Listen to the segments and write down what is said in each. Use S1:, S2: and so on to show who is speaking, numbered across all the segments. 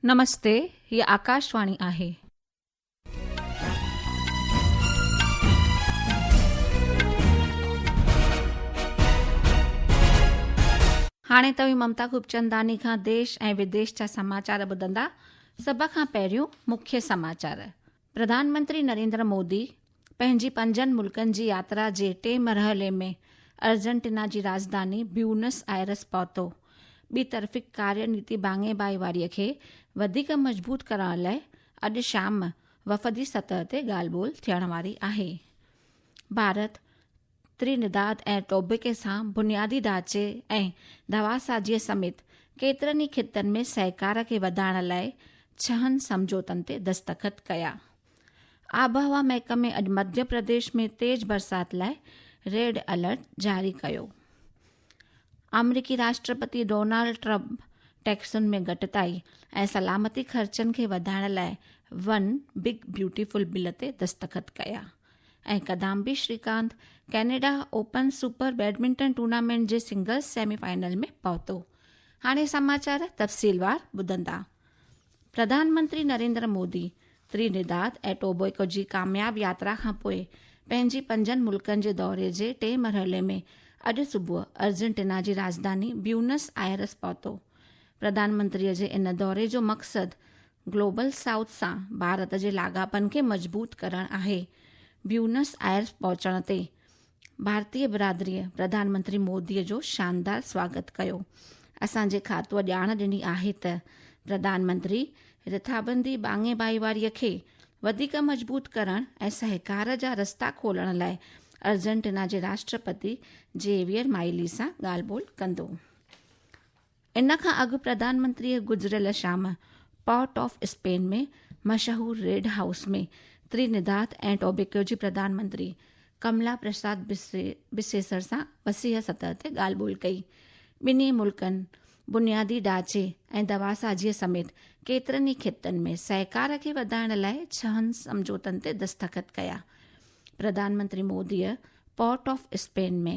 S1: نمستي هي آڪاشواڻي آهي. هاڻي توهين ممتا خوبچنداني کان ديش ۽ وديش جا سماچار ٻڌندا سڀ کان پهريون مکيه سماچار پرڌانمنتري نريندر مودي پنهنجي پنجن ملڪن جي ياترا جي ٽئين مرحلي ۾ ارجنٽينا جي راڄڌاني بيونس آئرس پهتو. ٻي طرفي ڪاري نيتي ڀاڱي ڀائيواري کي وڌيڪ مضبوط ڪرڻ لئه اڄ شام وفدي سطح تي ڳالهه ٻولهه ٿيڻ واري آهي. ڀارت ترينڊاد ۽ ٽوبيڪي سان بنيادي ڍانچي ۽ دواسازيء سميت ڪيترن ئي خطن ۾ سهڪار کي وڌائڻ لاء ڇهن سمجهوتن تي دستخط ڪيا. آبهوا محڪمي اڄ مڌيه پرديش ۾ تيز برسات لاء ريڊ الرٽ جاري ڪيو. آمريڪي راشٽرپتي ڊونالڊ ٽرمپ ٽيڪسن ۾ گهٽتائي ۽ سلامتي خرچن کي وڌائڻ لاء ون بگ بيوٽيفل بل تي دستخط ڪيا. ۽ Kidambi Srikanth Canada open super badminton tournament جي سنگلز سيمي فائنل ۾ پهتو هاڻي سماچار تفصيلوار ٻڌندا پرڌانمنتري نريندر مودي ترينيداد ۽ ٽوبيڪو جي ڪامياب ياترا کان پوء پنهنجي پنجن ملڪن جي دوري جي ٽئين مرحلي ۾ اڄ صبح ارجنٽينا جي راجڌاني بيونس آئرس پهتو پرڌانمنتري جي ان دوري جو مقصد گلوبل سائوٿ سان ڀارت جي لاڳاپن کي مضبوط ڪرڻ آهي، بيونس آئرس پهچڻ تي ڀارتي برادريء پرڌانمنتري موديء جو شاندار سواگت ڪيو، اسان جي کاتوء ڄاڻ ڏني آهي ته پرڌانمنتري رٿابندي ٻانگي ڀائيواريء کي وڌيڪ مضبوط ڪرڻ ۽ سهڪار جا رستا کولڻ لاء ارجنٽينا جي راشٽرپتي زيويئر مائلي سان ڳالهه ٻولهه ڪندو. ان کان اڳ پرڌان منتريء گذريل شام پورٽ آف اسپين ۾ مشهور ريڊ هائوس ۾ ترينيداد ۽ ٽوبيڪو جي پرڌان منتري ڪملا پرساد بسيسر سان وسيع سطح تي ڳالهه ٻولهه ڪئي. ٻنهي ملڪن بنيادي ڍانچي ۽ دواسازيء سميت ڪيترن ئي خطن ۾ سهڪار کي وڌائڻ لاء ڇهن سمجهوتن تي دستخط ڪيا. پرڌان منتري موديء Port of Spain ۾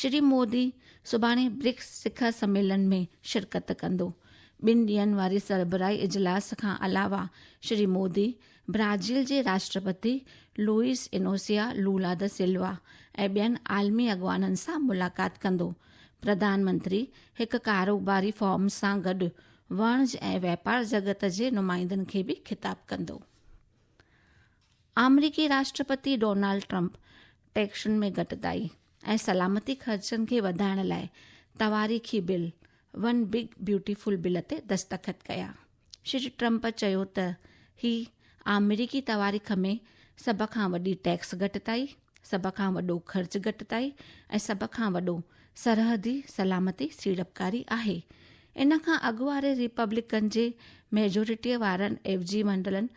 S1: Shri Modi سڀاڻي برڪس سکر سميلن ۾ شرڪت ڪندو. ٻن ڏينهن واري سربراهي اجلاس کان علاوه شري مودي برازيل جي راشٽرپتي لوئيس انوسيا لولا د سلوا ۽ ٻين عالمي اڳواڻن سان ملاقات ڪندو. پرڌان منتري هڪ ڪاروباري فورم سان گڏ وڻج ۽ واپار جڳت جي نمائندن کي به خطاب ڪندو. آمريڪي راشٽرپتي ڊونالڊ ٽرمپ ٽيڪسن ۾ گهٽتائي ۽ سلامتي خرچن کي وڌائڻ لاء تواريخي bill one big beautiful bill تي دستخط ڪيا. شري ٽرمپ چيو ته هي آمريڪي تواريخ ۾ سڀ کان وڏي ٽيڪس گهٽتائي، سڀ کان وڏو خرچ گهٽتائي ۽ سڀ کان وڏو سرحدي سلامتي سيڙپڪاري آهي. ان کان اڳ واري ريپبلڪن جي ميجورٽيء وارن ايوجي ونڊلن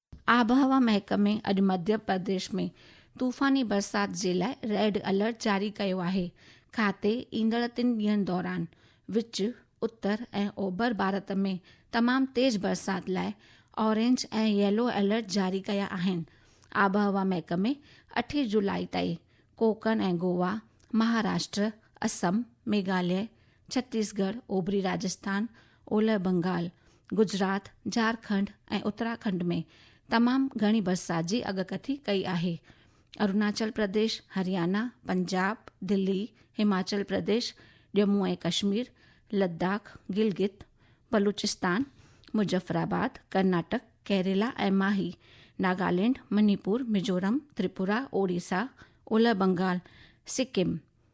S1: آبهوا محڪمي اڄ مڌيه پرديش ۾ طوفاني برسات جي لاء ريڊ الرٽ جاري ڪيو آهي. کاتي ايندڙ ٽن ڏينهن دوران وچ، اتر ۽ اوڀر ڀارت ۾ تمام تيز برسات لاء اورينج ۽ ييلو الرٽ جاري ڪيا آهن. آبهوا محڪمي اٺين جولاء تائين ڪوڪڻ ۽ گوا، مهاراشٽر، اسم، ميگهاليه، ڇتيسگڙھ، اوڀري راجسٿان، اولهه بنگال، گجرات، جھارکنڊ ۽ اتراکنڊ ۾ تمام گھڻي برسات جي اڳڪٿي ڪئي آهي. اروناچل پرديش، هريانا، پنجاب، دلي، هماچل پرديش، ڄمون ۽ ڪشمير، لداخ، گلگت، بلوچستان، مظفرآباد، ڪرناٽڪ، ڪيريلا ۽ ماهي، ناگالينڊ، منيپور، ميزورم، تريپورا، اوڙيسا، اولهه بنگال، سڪم،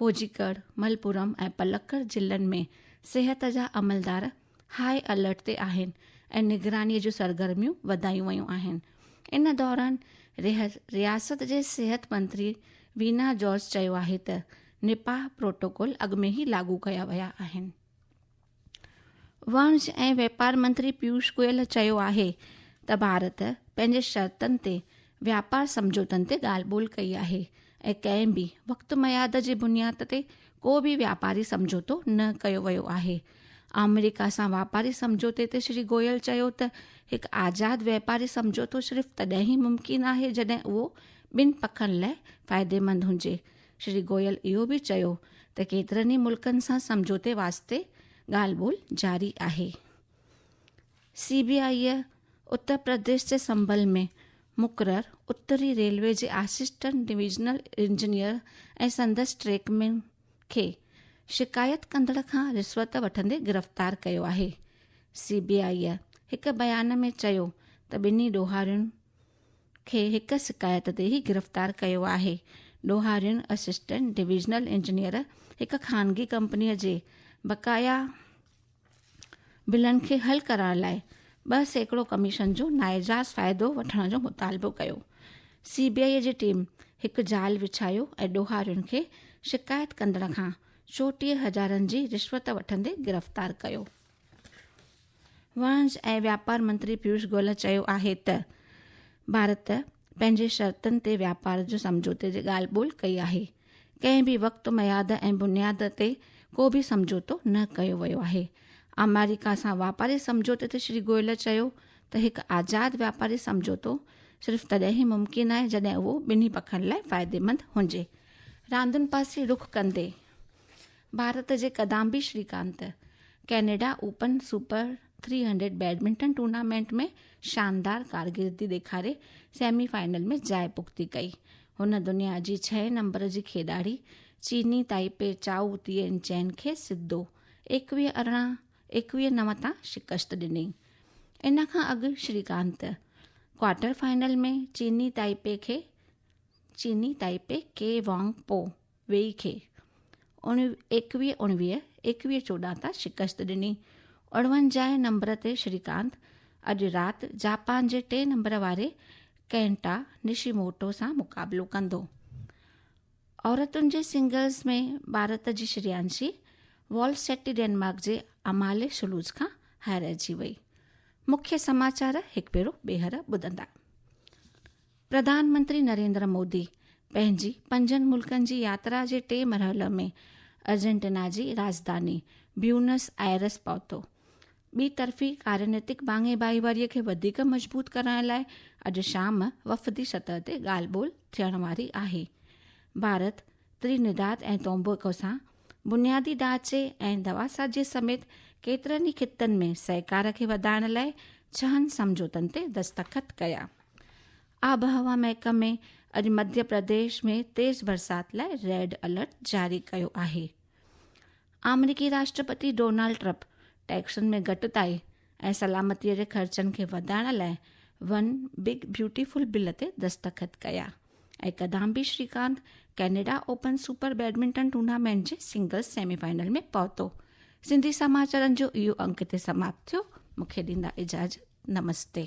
S1: ڪوجيڪڙ، ملپورم ۽ پلڪڙ ضلعن ۾ صحت جا عملدار هاء الرٽ تي آهن ۽ نگراني جون سرگرميون وڌايون ويون آهن. ان دوران رياست جي صحت منتري وينا جارج چيو آهي ته نپاهه پروٽوڪول اڳ ۾ ئي لاڳو ڪيا ويا آهن. واڻج ۽ واپار منتري پيوش گويل چيو آهي ته ڀارت پنهنجي شرطن تي واپار سمجھوتن تي ڳالهه ٻولهه ڪئي آهي ۽ ڪنهن به وقت مياد جي بنياد تي ڪو به واپاري سمجھوتو نه ڪيو ويو آهي آمريڪا سان واپاري سمجھوتي تي شري گويل چيو ته هڪ آزاد واپاري سمجھوتو صرف تڏهن ئي ممڪن آهي جڏهن اهو ٻن پکن لاء فائديمند هجي شري گوئل اهو به چيو ته ڪيترن ئي ملڪن سان سمجهوتي واسطي ڳالهه ٻولهه جاري آهي. سي بي آئيء اتر پرديش جي سنڀل ۾ مقرر اتري ريلوي جي آسسٽنٽ ڊويزنل انجنيئر ۽ سندس ٽريڪ مين کي شڪايت ڪندڙ کان رشوت وٺندي گرفتار ڪيو آهي. سي بي آئيء هڪ بيان ۾ چيو ته ٻنهي ڏوهارين کي هڪ شڪايت تي ئي گرفتار ڪيو آهي. ڏوهارين اسسٽنٽ ڊويزنل انجنيئر هڪ خانگي ڪمپني جي بقايا بلن کي حل ڪرائڻ لاء ٻه سيڪڙو ڪميشن جو ناجائز فائدو وٺڻ جو مطالبو ڪيو. سي بي آئي جي ٽيم هڪ جال وڇايو ۽ ڏوهارين کي شڪايت ڪندڙ کان چوٽيهه هزارن جي رشوت وٺندي گرفتار ڪيو. واڻج ۽ واپار منتري پيوش گوئل چيو آهي ته ڀارت پنهنجي شرطن تي واپار جو سمجھوتي جي ڳالهه ٻولهه ڪئي آهي ڪنهن به وقت مياد ۽ بنياد تي ڪو به سمجھوتو نه ڪيو ويو آهي آمريڪا سان واپاري سمجھوتي تي شري گوئل چيو ته هڪ آزاد واپاري سمجھوتو صرف تڏهن ئي ممڪن آهي جڏهن اهو ٻنهي پکن لاء فائديمند هجي راندين پاسي رخ ڪندي ڀارت جي Kidambi Srikanth Canada open Super three hundred badminton tournament ۾ شاندار ڪارڪردگي ڏيکاري سيمي فائنل ۾ جاء پختي ڪئي هن دنيا جي ڇهين نمبر جي کيڏاڙي چيني تائپي چائو تين چين کي سڌو ايڪويهه ارڙهن ايڪويهه نو تان شڪست ڏني ان کان اڳ شري ڪانت ڪوارٽر فائنل ۾ چيني تائپي کي چيني تائپي ڪي وانگ پو ويهي کي ايڪويهه اڻويهه ايڪويهه چوڏهن تان شڪست ڏني. اڻونجاهه نمبر تي شريڪانت اڄ رات جاپان جي ٽئين نمبر واري ڪينٽا نشيموٽو سان مقابلو ڪندو. عورتن جي سنگلز ۾ ڀارت جي شريانشي وال سيٽي ڊينمارڪ جي امالي سلوز کان هارائجي وئي. مکيه سماچار هڪ ڀيرو ٻيهر ٻڌندا. پرڌان منتري نريندر مودي پنهنجي پنجن ملڪن جي ياترا جي ٽئين مرحلي ۾ ارجنٽينا جي راڄڌاني بيونس آئرس پهتو. ٻي طرفي ڪارنيتڪ ٻانگي ڀائيواري کي وڌيڪ مضبوط ڪرڻ لاء اڄ شام وفدي سطح تي ڳالهه ٻولهه ٿيڻ واري آهي. ڀارت، ترينڊاد ۽ تومبوڪو سان بنيادي ڍانچي ۽ دواسازيء سميت ڪيترن ئي خطن ۾ سهڪار کي وڌائڻ لاء ڇهن سمجهوتن تي دستخط ڪيا. آبهوا محڪمي اڄ مڌيه پرديش ۾ تيز برسات لاء ريڊ الرٽ جاري ڪيو آهي. آمريڪي راشٽرپتي ڊونالڊ ٽرپ ٽيڪسن ۾ گهٽتائي ۽ سلامتيء جي خرچن کي وڌائڻ لاء ون بگ بيوٽيفل بل تي دستخط ڪيا ۽ Kidambi Srikanth Canada open super badminton tournament جي سنگلز سيمي فائنل ۾ پهتو سنڌي سماچارن جو اهو انڪ هتي سماپت ٿيو مون کي ڏيندا اجازت نمستي